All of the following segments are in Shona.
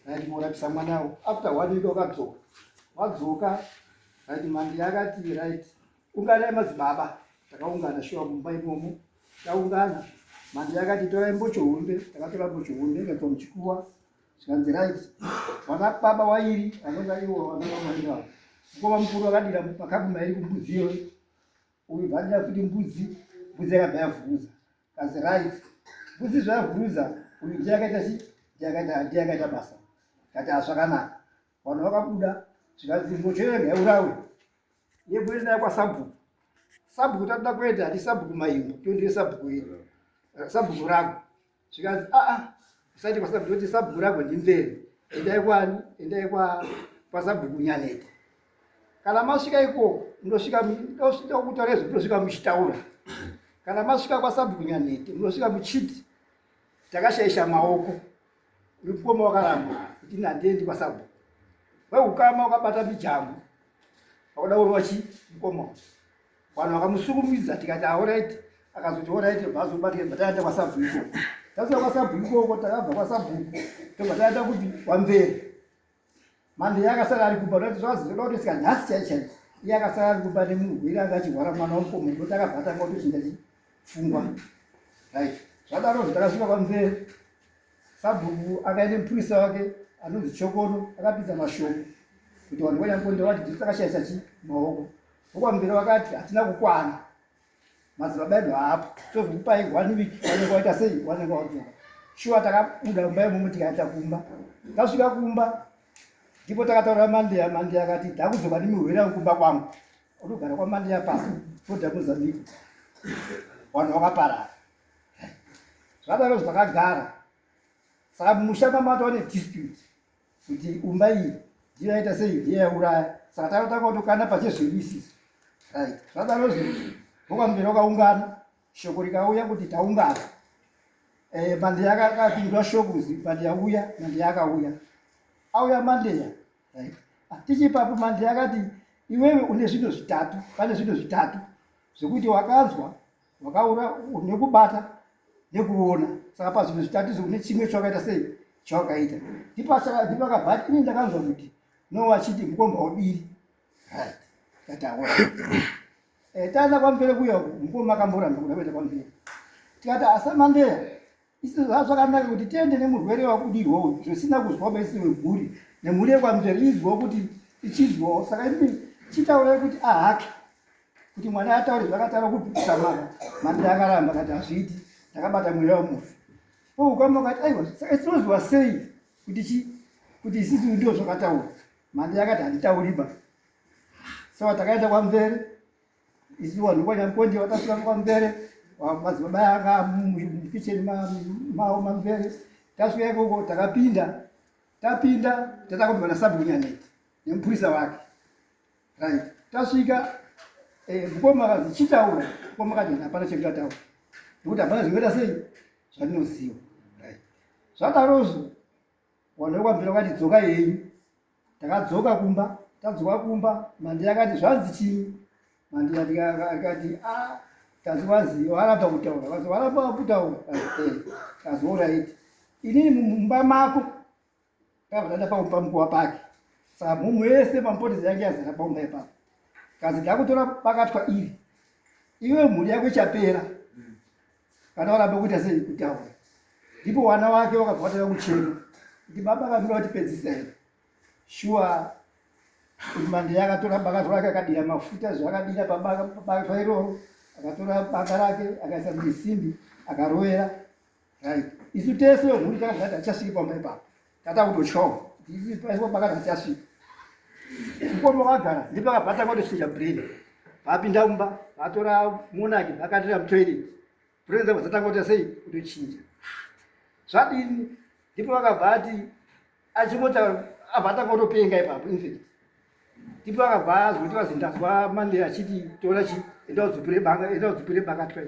Right, morapisa mwana wo. After one week wakadzoka. Wadzoka. Right, mandi yakati right. Ungana madzibaba. Takaungana shuwa mumba imomo. Takaungana. Mandi yakati tora mbocho hunde. Takatora mbocho hunde ngekuwa mchikuwa. Zvikanzi right. Wana baba wairi anonga iwo anonga mwana. Mkoma mkuru akadira makabu mairi kumbuzi yo. Uyu vadira kuti mbuzi. Mbuzi yakabaya vuza. That's right. Kusi zvavhuruza uyu ndiye akaita si ndiye akaita basa kati hazvakanaka vanhu vakabuda zvikanzi mbochera ngaurawe yebwere nayo kwasabhuku sabhuku tatoda kuenda hati sabhuku maimbo tondire sabhuku iri sabhuku rako zvikanzi aa usati kwasabhuku toti sabhuku rako ndimvere endai kwani endai kwasabhuku nyaneta kana masvika ikoko munosvika ndokutaura izvo munosvika muchitaura kana masvika kwasabhuku nyanhete munosvika muchiti takashaisha maoko ripoma wakaramba kuti nhandiendi kwasabhuku weukama wakabata mijamu wakuda kurova chi mukoma vanhu vakamusukumidza tikati aoraiti akazoti oraiti vazobatika bva taenda kwasabhuku ikoko tasvika kwasabhuku ikoko takabva kwasabhuku tobva taenda kuti wamberi manje iye akasara ari kumba ndati zvazi ndoda kuti sika nhasi chai chai iye akasara ari kumba nemugwira anga achirwara mwana wamukoma ndoti akabatanga kuti chingachifungwa right zvadaro zvo takasvika kwamzee sabhuku akaende mupurisa wake anonzi chokono akapinza mashoko kuti vanhu vanyambo ndewati dziri takashaisa chi maoko vokwamvere vakati hatina kukwana madzibaba edu haapo tozokupai one week wanenge waita sei wanenge wadzoka shuwa takabuda kumba imomo tikaita kumba tasvika kumba ndipo takataura mandeya mandeya akati ndakuzoba nemihwera kumba kwangu unogara kwamandeya pasi toda mozambique vanhu vakaparara zvadaro zvakagara saka mumusha mamatoone dispute kuti umba iyi ndiyo yaita sei ndiyo yauraya saka takatanga kutokana pachezvedu isisi right zvadaro zvinhu vokwamberi wakaungana shoko rikauya kuti taungana eh, mandeya akapindura shoko kuzi mandeya uya mandeya akauya auya mandeya right ah, tichipapo mandeya akati iwewe une zvinhu zvitatu pane zvinhu zvitatu zvekuti wakanzwa wakaura nekubata nekuona saka pazvinhu zvitatizo kune chimwe chawakaita sei chawakaita ndipakabva ini ndakanzwa kuti no vachiti mukomba wabiri right tataura eh, taenda kwamvere kuya mukoma akamboramba kuda kuenda kwamvere tikati asamandeya Isi zvakanaka kuti tiende nemurwere wakudirwa uyu zvisina kuzwa baisi weguri nemhuri yekwamzveri izwa kuti ichizwawo saka imi chitaurai kuti ahake kuti mwana ataure zvakataura kupikisa mwana manda akaramba kati hazviiti ndakabata mweya wemufi oukama kati aiwa saka tinoziva sei kuti chi kuti isisi ndio zvakataura manda yakati handitauriba saka takaenda kwamvere isu vanhu vanyakonje vakasvika kwamvere madzibaba anga mukicheni mavo mamvere tasvika ikoko takapinda tapinda tatanga kuti vanasabunyaneti nemupurisa wake right tasvika eh, mukoma akazi chitaura mukoma akati hapana chekutataura nekuti hapana zvingaita sei zvandinoziva right zvadarozvo Wanda wakabvira wakati dzoka henyu. Takadzoka kumba, tadzoka kumba, Mandi akati zvanzi chii? Mandi akati ah kazi wazi waramba kutaura kazi waramba kutaura kazi orit inini mumba mako ndakavadada paumba mukuwa pake saka mhumhu yese pamupotezi yange yazara paumba ipapo kazi ndakutora bakatwa iri iwe mhuri yako ichapera kana varamba kuita sei kutaura ndipo vana vake vakabva vatanga kuchema kuti baba vanoda vatipedzisa here shuwa kuti mande yakatora baka zvake akadira mafuta zvaakadira pabaka iroro akatora baka rake akaisa muisimbi akarovera right isu tese vemhuri takazati achasviki pamba ipapo Tata kutochoma. Ndizvi paiswa pakati tichasvika. Mukoma vagara ndipo akabata kwatosvika brain. Vapinda mumba vatora monaki vakatira mutoilet. Brain dzavo dzatanga kuita sei kutochinja. Zvadini ndipo vakabva ati achingota abva atanga kutopenga ipapo infact. Ndipo akabva azoti vazindazwa Monday achiti tora chi enda udzupire banga enda udzupire banga try.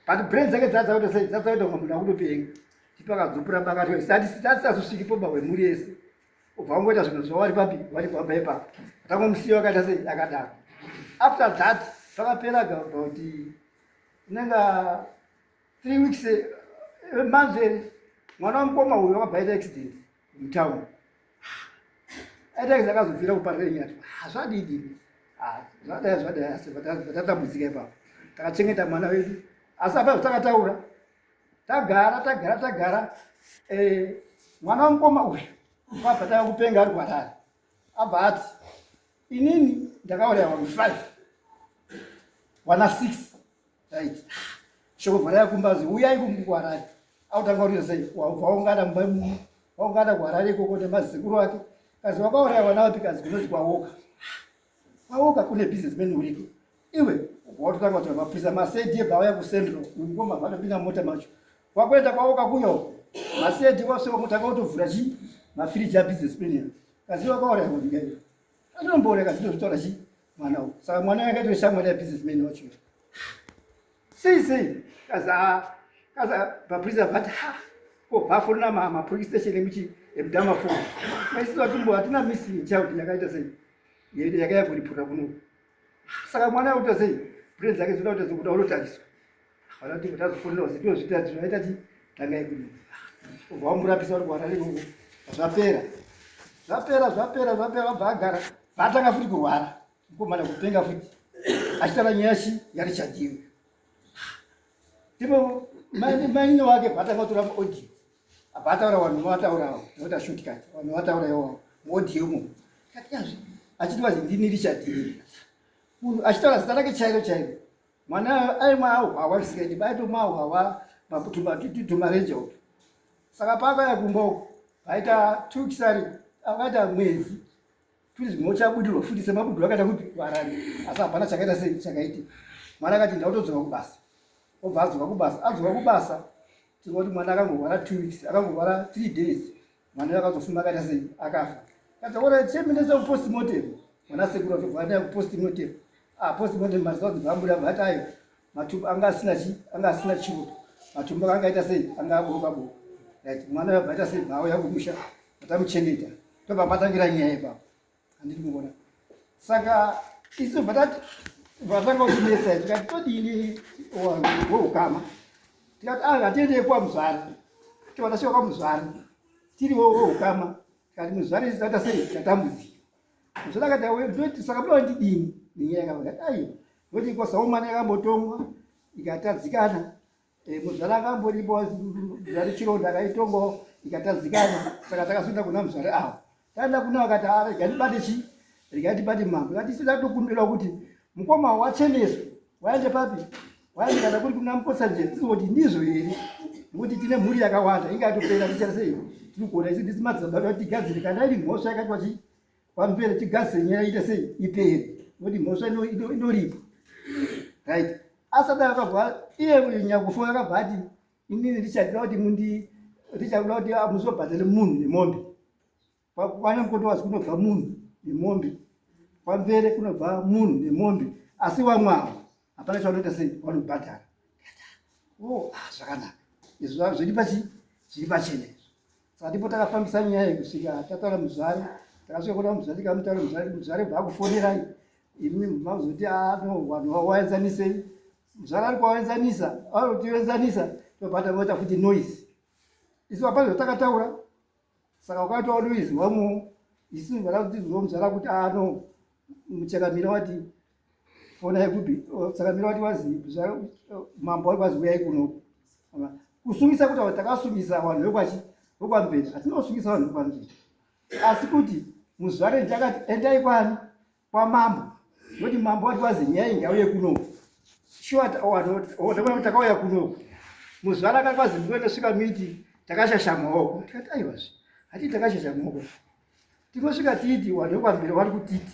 but brain dzake dzadzakuita sei dzadzakuita kunga munhu akutopenga chipo akadzupura pakati atisazosvikipo ba hwemhuri yese ubva wangoita zvinhu zvawari papi wari kwamba ipapo atangomusiya wakaita sei akadaro after that pakapera about inenga three weeks eh, manzeri mwana wamukoma uyo wakabva aita accident mutown aitaisa ah, akazobvira kuparenyati ah, zvadidi ah, zvadaya zvadaya asi vatatambudzika ipapo takachengeta mwana wedu asi apa takataura tagara tagara tagara eh, mwana wamukoma uyu pabva tava kupenga ari kwarari abva ati inini ndakauraya vanhu five wana six right shoko vharaya kumbazi uyai kumkuharare autanga kuti sei waungana mumba waungana kuharare ikoko nemazisekuru wake kazi wakauraya vana vapi kazi kunonzi kwawoka kwawoka kune business man uriko iwe watotanga kuti mapurisa masedi ebva auya kucentral ngoma vanopinda mota macho wakuenda kwawoka kuyo masedi wasvika mutanga utovhura chii mafiriji abusiness man Kaziva kwa ora kuti ngai. Ano mbore kasi to tora chi mwana u. Saka mwana yake to shamwa ya business man wacho. Si si. Kaza kaza ba prison but ha. Ko ba for na mama police station emichi emdama for. Mai siwa tumbo atina missing child yakaita sei. Yeye yakayakuripura kuno. saka mwana akuita sei brain dzake dzinoda kuti dzikuda unotariswa vana kuti tazofonera kuti tinozviita tinoita ti tangai kuno ubva wamurapisa uri kuwana ikoko zvapera zvapera zvapera zvapera vabva agara vatanga futi kurwara mukomana kupenga futi achitara nyaya shi yarichadiwe ndipo mainini wake vatanga kutora maaudio apa ataura vanhu vataurawo nota shortcut vanhu vataura iwawo modiomo katiyazve achiti vazi ndini richard munhu achitaura zita rake chairo chairo mwana aimwa ahwawa zvisingaiti baitomwa ahwawa makutumarenje uku saka paakaya kumba uku vaita tukisari akaita mwedzi Please mochabudirwa futi semabudu akaita kuti varani asi hapana chakaita sei chakaita mwana akati ndautodzoka kubasa obva adzoka kubasa adzoka kubasa tinoa kuti mwana akangorwara two weeks akangorwara three days mwana uyo akazofuma akaita sei akafa kataura chemendesa kupost motem mwana sekuru atobva ataya kupost motem ah post motem maziva dzibva ambuda bva atayo matumbu anga asina chi anga asina chiuto matumbu anga akaita sei anga aboka bo right mwana yabva aita sei bhawo yakumusha atamuchengeta tobva patangira nyaya ipapo handiti kuona saka isu bva tati bva tanga kuchinesa tikati todini woukama tikati a ah, hatiendei kwa muzvara tobva tasvika kwa muzvara tiri wo woukama tikati muzvara isu taita sei tatambudzika zvakati auye ndoti saka buda wandidini nenyaya yakavakati aiwa ndoti ikosa umwana yakambotongwa ikatadzikana eh, muzvara akamboripo zvati chironda akaitongawo ikatadzikana saka takazoenda kuna muzvare avo taenda kuna vakati arega ah, ndibate chii rikati pati mambo katisi latokumbirwa kuti mukoma wacheneswa waende papi Wani kana kuri kuna mposa nje tizoti ndizvo here ngokuti tine mhuri yakawanda inge atopera tichita sei tiri kuona isi ndisi madzibaba kuti tigadzire kana iri mhosva yakati wachi kwamupere tigadzire nyaya ite sei ipere ngokuti mhosva inoripa right asati akabva iye nyakufoya akabva ati inini ndichadira kuti mundi ndichakuda kuti ah, muzobhadhare munhu nemombe Kwanya mukondowazi kunobva munhu nemombe, kwamvere kunobva munhu nemombe, asi vamwe avo hapana chavanoita sei vanobhadhara. Oh, ah, zvakanaka izvo zviri pachi zviri pachena izvo saka ndipo takafambisa nyaya iyi kusvika tataura muzvare takasvika kuona muzvare tikamutaura muzvare muzvare bvakufonerai imi mazoti ano ah, vanhu vawaenzanisei muzvare ari kuwaenzanisa vanotiwenzanisa tobva tavota futi noise isu hapana zvatakataura saka ukati wadoizwamo isu vana kuti zvomudzvara kuti ano muchakamira wati fona yekupi chakamira wati wazi mambo wari kwazi uyai kuno kusungisa kuti avo takasungisa vanhu vekwachi vokwamveni hatinosungisa vanhu vokwamveni asi kuti muzvare ndichakati endai kwani kwamambo noti mambo wati wazi nyai ngauye kuno shuwa takauya kuno muzuva rakakwazi ndiwe tosvika miti takashasha maoko tikati aiwazve hatii takashasha maoko tinosvika tiiti wanhu wekwambira wari kutiti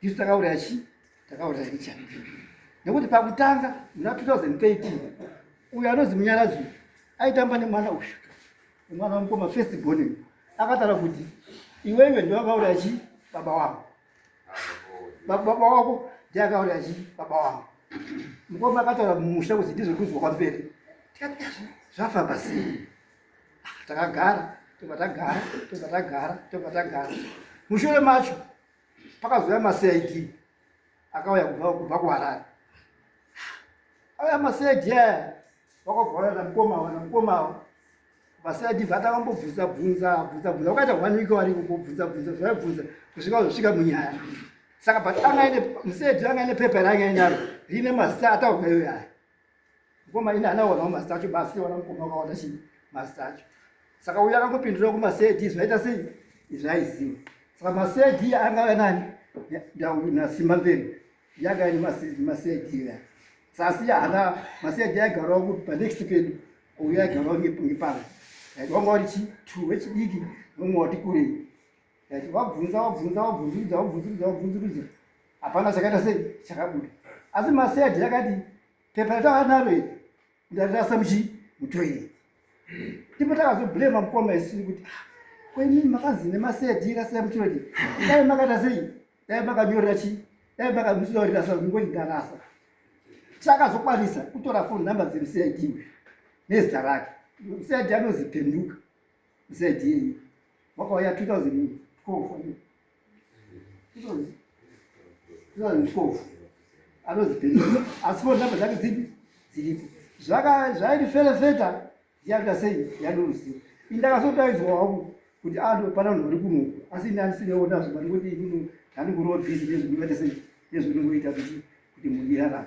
isu takauraya chii takauraya icha nekuti pakutanga muna 2013 uyo anonzi munyarazi aitamba nemwana uyu Mwana wamukoma first born akatara kuti iwewe ndiwe akauraya chi baba wako. Baba wako ndiye akauraya chi baba wako. Mukoma akataura mumusha kuti ndizvo kuzwa kwamberi. Tikati zvafamba sei? Ah, takagara tobva tagara tobva tagara tobva tagara mushure macho pakazouya macid akauya kubva kuharare auya macid aya vakabva vayana mukoma ava namukoma ava vasati vatanga mbobvunza bvunza bvunza bvunza vakaita one week variko mbobvunza bvunza zvaibvunza kusvika vazosvika munyaya saka but anga ine musedi anga ine pepa raanga inaro rine mazita ataurwa iyoyo aya mukoma ine anaonawo mazita acho basi wana mukoma wakaona chii mazita acho saka uyo akangopindura kumasedi zvaita sei izvaiziva saka masedi anga ava nani ndauna simba mberi yanga iri masegera sasi hana masege yaigarawo kuti panext pedu uyo yaigarawo ngepanga vanga wati chi two wechidiki vamwe wati kurei ati wabvunza wabvunza wabvunzurudza wabvunzurudza wabvunzurudza hapana chakaita sei chakabuda asi masege yakati pepa ratavanaro iri ndarasa muchi mutoilet ndipo takazoblema mukoma isini kuti ah, kwenini makanzi nemasedi irasira mutoilet dai makaita sei dai makanyorera chii dai makamusidaurira sa ngoti ndarasa takazokwanisa kutora foni number dzemcid nezita rake mcid anoziphenduka Said him. Wakauya 2012 wani. 2012. Anozi Billy. Asi phone number dzake dzipi? Dziripo. Zvaka zvairi fele feta ndiyakuita sei yandoruziva. Indakasotaidzwa wangu kuti ando pana munhu uri kuno. Asi ini andisineona zvimari kuti ini ndandikuroad busy nezvekuita sei. Nezvekuita kuti kuti mudirarame.